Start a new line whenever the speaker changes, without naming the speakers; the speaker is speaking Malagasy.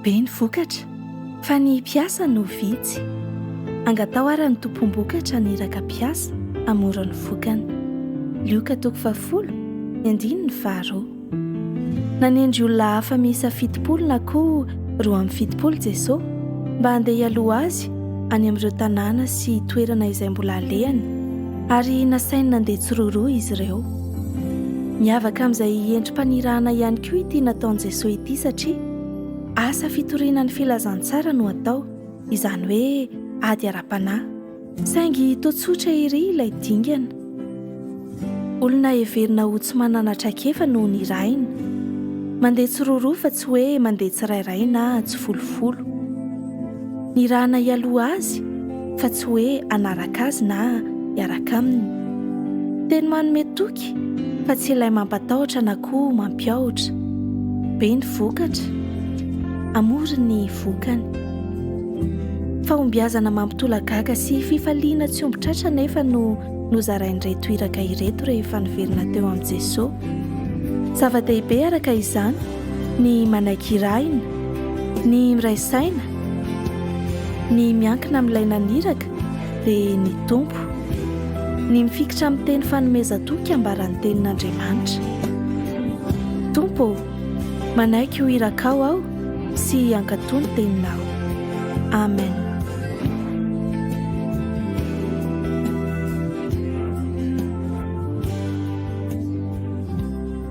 Be ny vokatra fa ny mpiasa no vitsy. Angataho ary ny tompom-bokatra haniraka mpiasa hamora ny vokany. Lioka toko fahafolo, ny andininy faharoa. Nanendry olona hafa miisa fitopolo na koa roa amby fitopolo Jesoa mba handeha hialoha Azy any amin'ireo tanàna sy toerana izay mbola alehany ary nasainy nandeha tsiroaroa izy ireo. Miavaka amin'izay endri-panirahana ihany koa ity nataon'i Jesoa ity satria asa fitoriana ny filazantsara no atao, izany hoe ady ara-panahy. Saingy toa tsotra ery ilay dingana. Olona heverina ho tsy manana traikefa no nirahina. Mandeha tsiroroa fa tsy hoe mandeha tsirairay na tsifolofolo. Nirahana hialoha azy? fa tsy hoe hanaraka azy na hiaraka aminy. Teny manome toky fa tsy ilay mampatahotra na koa mampiahotra. Be ny vokatra, amory ny vokany. Fahombiazana mampitolagaga sy fifaliana tsy omby tratra anefa no nozarain'ireto iraka ireto rehefa niverina teo amin'i Jesoa. Zava-dehibe araka izany ny manaiky irahina, ny miray saina, ny miankina amin'ilay naniraka dia ny Tompo, ny mifikitra amin'ny teny fanomezan-toky hiambaran'ny tenin'Andriamanitra. Tompo ô, manaiky ho irakao aho sy hankatò ny teninao. Amen.